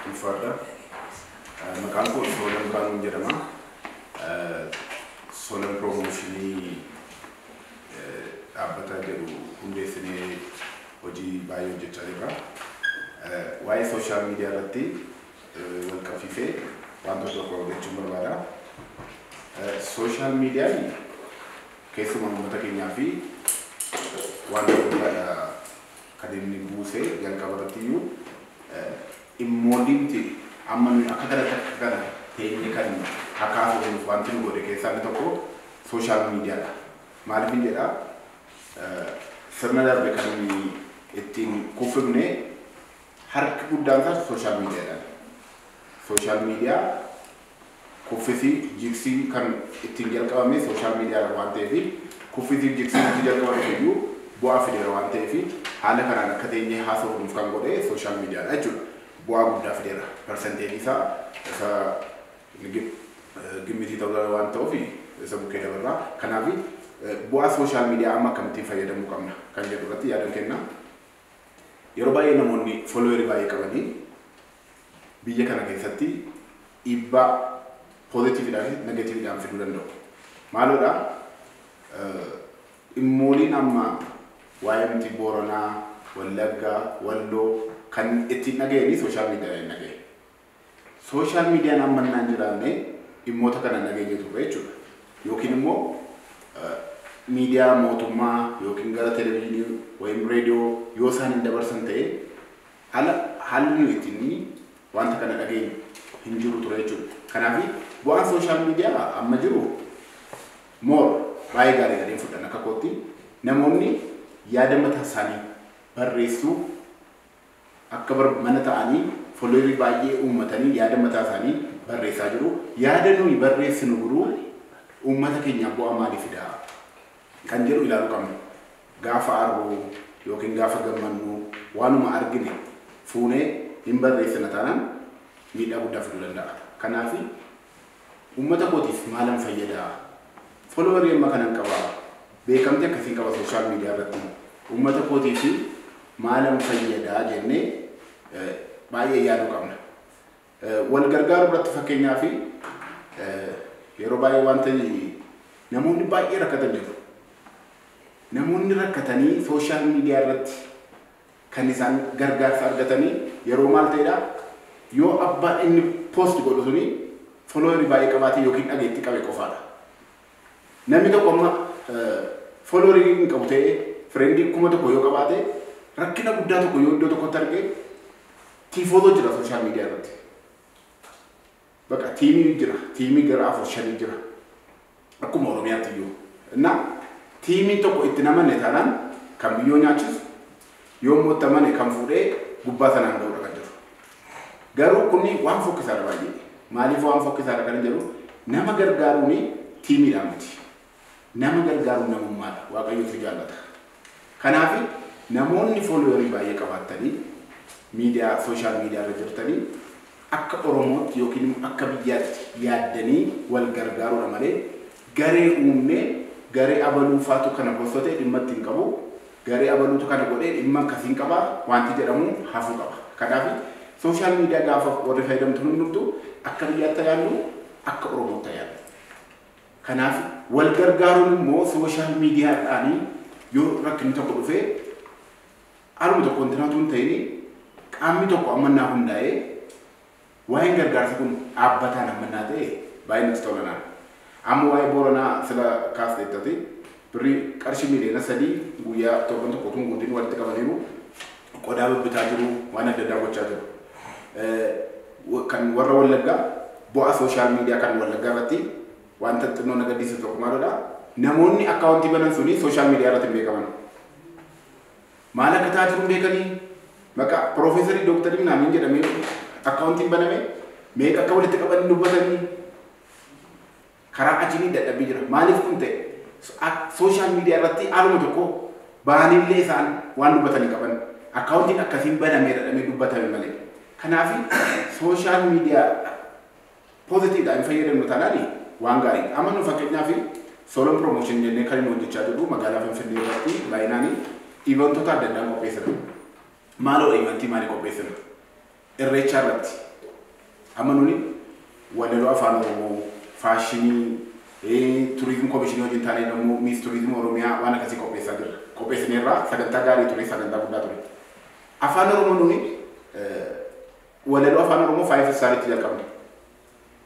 Ulfaadhaa. Maqaan koo Soolan Biraanuun jedhama. Soolan Piroomooshinii dhaabbata jedhu hundeessinee hojii baay'ee hojjechaa jirra. Waa'ee sooshaal miidiyaa irratti wal qabsiisee wanta tokko jechuun barbaada. Sooshaal miidiyaan keessumaa uummata keenyaa fi wanta guddaadha. kan inni buuse jalqaba irratti iyyuu dhimmooliimti amma nuyi akka kanatti akka kana teenyee kan hakaasofnuuf wanti nu godhe keessaa inni tokko sooshaal miidiyaadha. Maaliifin jedha sirna darbe kan nuyi ittiin kuffifne harki guddaan isaas sooshaal miidiyaadhaan. Sooshaal miidiyaa Kuffisi jiksiin kan ittiin jalqabame social media irra waan ta'eef kuffisi jiksiin utuu jalqaba dhufe iyyuu bu'aa fideera waan ta'eef haala kanaan akka teenyee haasofnuuf kan godhe social media dha jechuudha. Bu'aa guddaa fideera. Percentage isaa isa gimmitii ta'uu danda'a waan ta'uuf isa bukkee dabarra. Kanaaf bu'aa social media amma akkamittiin fayyadamuu qabna kan jedhu irratti yaadan kenna. Yeroo baay'ee namoonni follower baay'ee qabanii biyya kana keessatti dhiibbaa positive dhaa fi negative dhaan fiduu danda'u. Maaloo dha dhimmooliin amma waa'ee nuti Booranaa, Wallagga, Walloo kan itti hin dhaga'ini social media dhaan hin dhaga'e. Social media amma innaa hin jiraanne dhimmoota kana hin dhageenye turre jechuudha. Yookiin immoo media mootummaa yookiin gara television wayim radio yoo isaan hin dabarsan ta'e Hala haalli nuyi ittiin wanta kana dhageenyu hin jiru ture jechuudha. Kanaafi bu'aan social media amma jiru more baay'ee gaarii jedheen fudhan akka kootti namoonni yaada mataa isaanii barreessuu akka bar mana ta'anii followerii baay'ee uummatanii yaada mataa isaanii barreessaa jiru. Yaada nuyi barreessinu garuu uummata keenyaaf bu'aa maalii fidaa? kan jedhu ilaalu qabna. Gaafa aarru ykn gaafa gammannu waanuma argine fuunee hin barreessina taanaan miidhaa guddaa fiduu danda'a. Kanaaf ummata kootiif maalan fayyada? Follower amma kanan qaba? Beekamtii akkasiin qaba social media irratti? Ummata kootiif maalan fayyada jennee baay'ee yaaduu qabna. Wal gargaaruu irratti fakkeenyaaf yeroo baay'ee wanta namoonni baay'ee rakkatan jiru. Namoonni rakkatanii sooshaal miidiyaa irratti kan isaan gargaarsa argatanii yeroo maal ta'edha yoo abbaan inni poost godhu suni foloowerii baay'ee qabaate yookiin dhageettii qabe qofaadha. Namni tokko amma foloowerii hin qabu ta'ee fireendii kuma tokko yoo qabaate rakkina guddaa tokko yoo iddoo tokkotti arge Tiifootoo jira sooshaal miidiyaa irratti. Baqa tiimii jira. Tiimii gara afur shanii jira. Akkuma Oromiyaatti iyyuu. Innaa tiimiin tokko itti namanne taanaan kan biyyoo nyaachisu yoo immoo itti amane kan fuudhee gubbaa sanaan ga'uudha kan jiru. Garuu kunni waan fokkisaadha baay'ee. Maaliif waan fokkisaadha kan jedhu nama gargaaruun tiimiidhaan miti. Nama gargaaruun namummaadha. Waaqayyootu jaallata. Kanaafi namoonni followerii baay'ee qabaattanii miidiyaa social media irra jirtanii akka Oromootti yookiin immoo akka biyyaatti yaaddanii wal gargaaruudha malee garee uumnee garee abaluufaatu kana postote dhimma itti hin qabu. Garee abaluutu kana godhee dhimma akkasiin qaba waanti jedhamu hafuu qaba. Kanaafi social media gaafa warri fayyadamtu hundumtu akka biyyaatti haa yaadnu akka Oromootti haa yaadnu. Kanaaf wal gargaaruun immoo social media dhaan yoo rakkinni tokko dhufe aluma tokko intina utuu hin ta'in qaamni tokko ammannaa hundaa'ee waa'een gargaarsa kun dhaabbataan ammannaa ta'e baay'ee natti tola naan. Amma waa'ee Booranaa sila kaasteettati. Birrii qarshii miiliyoona sadii guyyaa torban tokko utuu hin guutin walitti qabaniiru. Qodaa babbitaa jiru, waan adda addaa gochaa jiru. Kan warra Wallaggaa bu'aa sooshaal miidiyaa kan Wallaggaa irratti wanta xinnoo na gaddisiisu tokko maalidha? Namoonni akkaawuntii banan suni sooshaal miidiyaa irratti hin beekaman. Maal akka ta'aa jiru hin beekanii? Maqaa piroofeesarii dooktarii minaamin jedhamee akkaawuntiin baname meeqa akka walitti qaban hin dubbatanii? Karaa ajini dadhabbi jira. Maalif kun ta'e? Social media irratti haaluma tokko bahanillee isaan waan dubbatan hin qaban. Accountin akkasiin banameera jedhamee dubbatame malee. Kanaafi social media positive dha hin fayyadamnu taanaan waan gaariidha. Amma nu fakkeenyaaf Solon Promotion jennee kan inni hojjechaa jirru magaalaa Finfinnee irratti baay'inaan ivantoota adda addaan qopheessina. Maaloo ivantii maalii qopheessina? Irreechaa irratti amma nuni walaloo afaan oromoo, faashinii, turizim komishinii wajjin taanee nammoo miis turizim oromiyaa waan akkasii qopheessaa jirra. Qopheessineerraa sagantaa gaarii ture, sagantaa guddaa ture. Afaan oromoo nuni walaloo afaan oromoo faayif istaaritti jalqabne.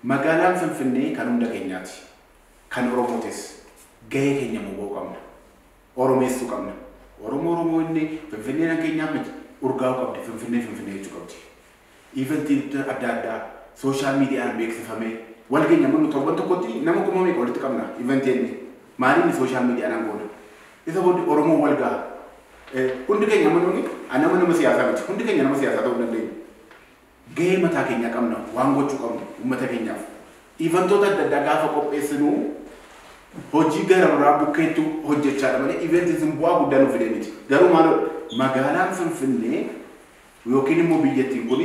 Magaalaan Finfinnee kan hunda keenyaati. Kan oromootis gahee keenya immoo ba'uu qabna. Oromeessuu qabna. Oromoo Oromoo inni Finfinneen akka keenyaa miti. Urgaa'uu qabdi. Finfinnee Finfinnee jechuu qabdi. Iventiin adda addaa sooshaal miidiyaan beeksifamee wal geenya mannu torban tokkotti nama kuma meeqa walitti qabna iventii inni maaliin sooshaal miidiyaanaan goona. Isa booddee Oromoo wal ga'a. Hundi keenya amma nuuni nama nama siyaasaa miti. Hundi keenya nama siyaasaa ta'uu hin dandeenyu. Gahee mataa keenyaa qabna. Waan gochuu qabnu uummata keenyaaf. Ivantoota adda addaa gaafa qopheessinu hojii gara biraa bukkeetti hojjechaadha malee event sun bu'aa guddaa nu fidee miti. Garuu maaloo magaalaan Finfinnee yookiin immoo biyyattiin kun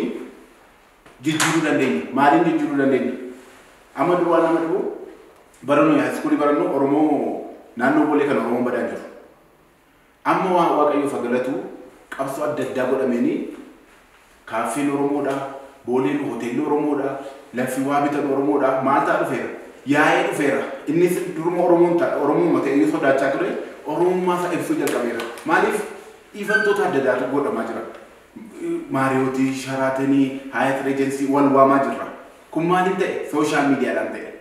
jijjiiruu dandeenya. Maaliin jijjiiruu dandeenya? Amma duwwaa nama dhibu bara nuyi haayiskuulii barannu Oromoo naannoo Boolee kan Oromoon badaa jiru. Amma waan Waaqayyoof ha galatu qabsoo adda addaa godhameeni kaaffeen Oromoodha, Booleen hoteelli Oromoodha, laffi waa bitan Oromoodha maal ta'a dhufeera. Yaa'ee dhufeera. Innis duruma Oromoon ta Oromooma ta'eyyuu sodaachaa ture Oromummaa isaa ibsuu jalqabeera. Maaliif ivantoota adda addaatu godhamaa jira. Maariyootii, Sharaatenii, Haayat Reejensii wal waamaa jirra. Kun maaliin ta'e? Sooshaal miidiyaadhaan ta'e.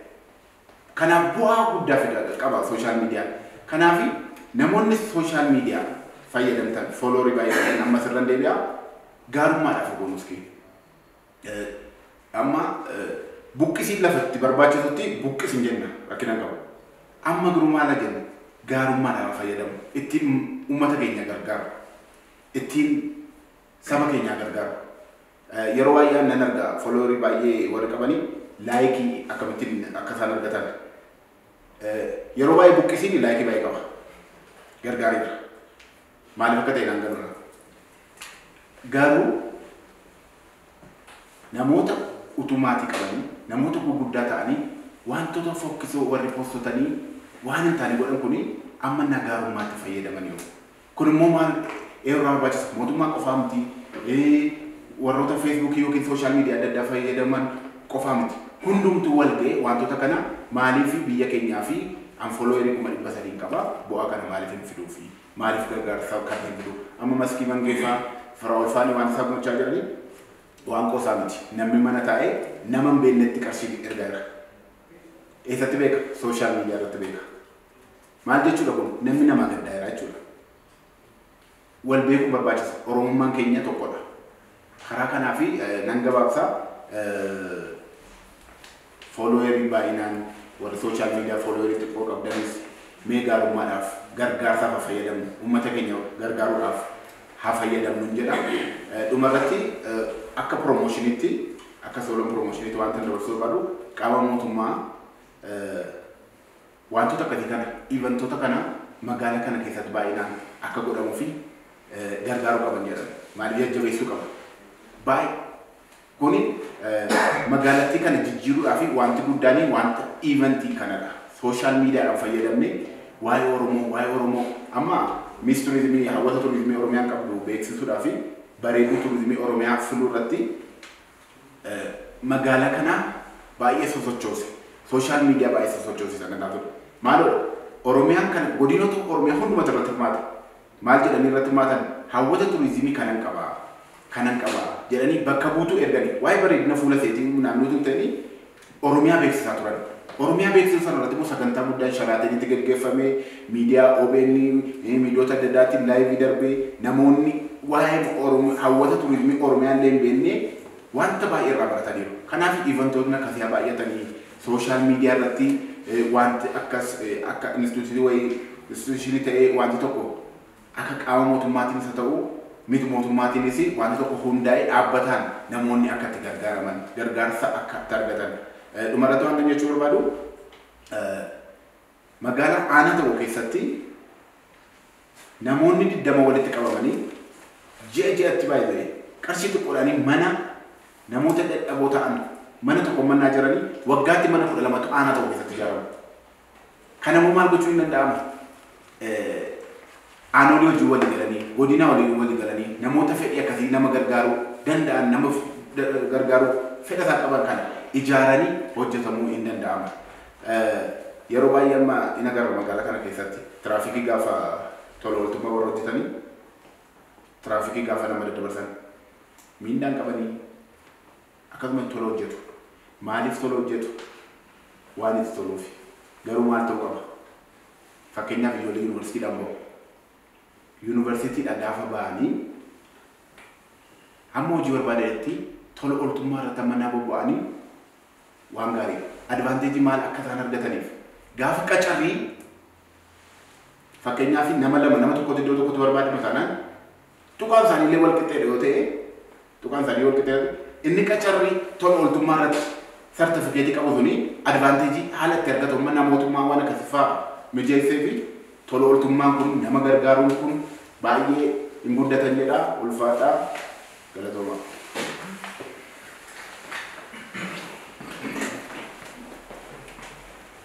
Kanaaf bu'aa guddaa fida qaba social media. Kanaafi namoonni social media fayyadamtan follow ribaayii godhan ammas irran deebi'a gaarummaadhaaf obbo Muskii. Amma buqqisiin lafa itti barbaachisutti buqqisin jenna rakkina hin qabu. Amma garuu maal haa jennu gaarummaadhaaf haa fayyadamu. Ittiin uummata keenya gargaaru. Ittiin saba keenya haa gargaaru. Yeroo baay'ee an nan arga follower baay'ee warri qabani like akkamittiin akka isaan argatan yeroo baay'ee buqqisiin like baay'ee qaba gargaaree jira maaliif akka ta'e naan galudha garuu namoota utuu maatii qabanii namoota gurguddaa ta'anii wantoota fokkisoo warri postotanii waan hin taane godhan kuni amma nagaarummaatti fayyadaman yoo Kun immoo maal eeruu irraa barbaachisa? Mootummaa qofaa miti, warroota feesbuukii yookiin sooshaal miidiyaa adda addaa fayyadaman qofaa miti. Hundumtuu wal ga'ee waantota kana maaliif biyya keenyaa fi an followeri kuma dhibba sadiin qaba bu'aa kana maaliif hin fiduu fi maaliif gargaarsa kana hin fiduu? Amma maskii mangee faa faraa'ol faanii waan isaa gochaa jiranii waan qoosaa miti. Namni mana taa'ee nama hin beeknetti qarshii erga erga. Eessatti beeka? Sooshaal miidiyaa irratti beeka. Maal jechuudha kun namni namaa gaddaa jira jechuudha. Wal beekuun barbaachisa. Oromummaan keenya tokkodha. Karaa kanaa fi nan gabaabsa foolooyerii baay'inaan warri sooshaal miidiyaa foolooyerii xiqqoo qabdanis mee gaarummaadhaaf gargaarsaaf haa fayyadamnu uummata keenya gargaaruudhaaf haa fayyadamnu hin jedha. Dhumarratti akka piroomoshiniitti akka soolan piroomoshiniitti wanta dabarsuu barbaadu qaama mootummaa Waantota akkasii kana, eventota kana magaala kana keessatti baay'inaan akka godhamu fi gargaaruu qaban jedhan. Maaliif jajjabeessuu qaba. Baay kuni magaalattii kana jijjiiruudhaa fi waanti guddaanii waanta eventii kanadha. Sooshaal miidiyaadhaan fayyadamne waa'ee Oromoo waa'ee Oromoo amma Miss Turizimii hawwata turizimii Oromiyaan qabdu beeksisuudhaa fi bareeduu turizimii Oromiyaa filuu irratti Magaalaa kana baay'ee sosochoose. Sooshaal miidiyaa baay'ee sosochoose sana irraa ture. Maaloo Oromiyaan kana godinoota Oromiyaa hundumatu irratti hirmaate. Maal jedhanii irratti hirmaatan? Hawwata turiizimii kanan qaba, kanan qaba jedhanii bakka buutuu erganii waa'ee bareedina fuula seetii naannootu hin ta'inii Oromiyaa beeksisaa turan. Oromiyaa beeksisan sana irratti immoo sagantaa guddaan Sharaateenitti gaggeeffamee, miidiyaa OBN, miidiyoota adda addaatiin laayivii darbee, namoonni waa'ee Oromiyaa, hawwata turizimii Oromiyaa illee hin beekne wanta baay'ee irraa barataniiru. Kanaaf ivantootni akkasii haa baay'atanii, sooshaal miidiyaa irratti wanti akkas akka instituutii wayii, instituushinii ta'ee wanti tokko Akka qaama mootummaatiinis haa ta'u mit mootummaatiinis waanti tokko hundaa'ee dhaabbataan namoonni akka itti gargaaraman, gargaarsa akka itti argatan, dhumarratti waantan jechuu barbaadu magaalaa aanaa tokko keessatti namoonni 20 walitti qabamanii ji'a ji'atti by the way qarshii xiqqoodhaanii mana namoota dadhaboo ta'an mana tokko mannaa jiranii waggaatti mana 12tu aanaa tokko keessatti ijaaramu. Kana immoo maal gochuun hin danda'amu? Aanoolii wajjin walii galanii, godinaa waliin walii galanii, namoota fedhii akkasii nama gargaaruu danda'an, nama gargaaruu fedha isaa qaban kana ijaaranii hojjetamuu hin danda'amu. Yeroo baay'ee amma hin agarru magaalaa kana keessatti tiraafikii gaafa tola ooltummaa warra hojjetanii tiraafikii gaafa nama daddabarsan miindaan qabanii Akkatuma hin tola hojjetu. Maaliif tola hojjetu? Waan itti toluufi. Garuu maal ta'uu qaba? Fakkeenyaaf ijoollee yuunivarsiitiidha moo? Yuunivarsiitiidha gaafa ba'anii hamma hojii barbaadanitti tola ooltummaa irratti amma naa bobba'anii waan gaariidha. Advaanteejii maal akka isaan argataniif gaafa qacarrii fakkeenyaaf nama lama nama tokkotti iddoo tokkotti barbaadama taanaan tuqaan isaanii illee wal qixxeedha yoo ta'e Tuqaan sadii wal qixa yoo ta'e, inni qacarrii tola ooltummaa irratti sartifikeetii qabu suni advaanteejii haala itti argatu mannaa mootummaa waan akkasii fa'aa mijeessee fi tola ooltummaan kun nama gargaaruun kun baay'ee hin guddatan jedha ulfaadhaa galatoomaa.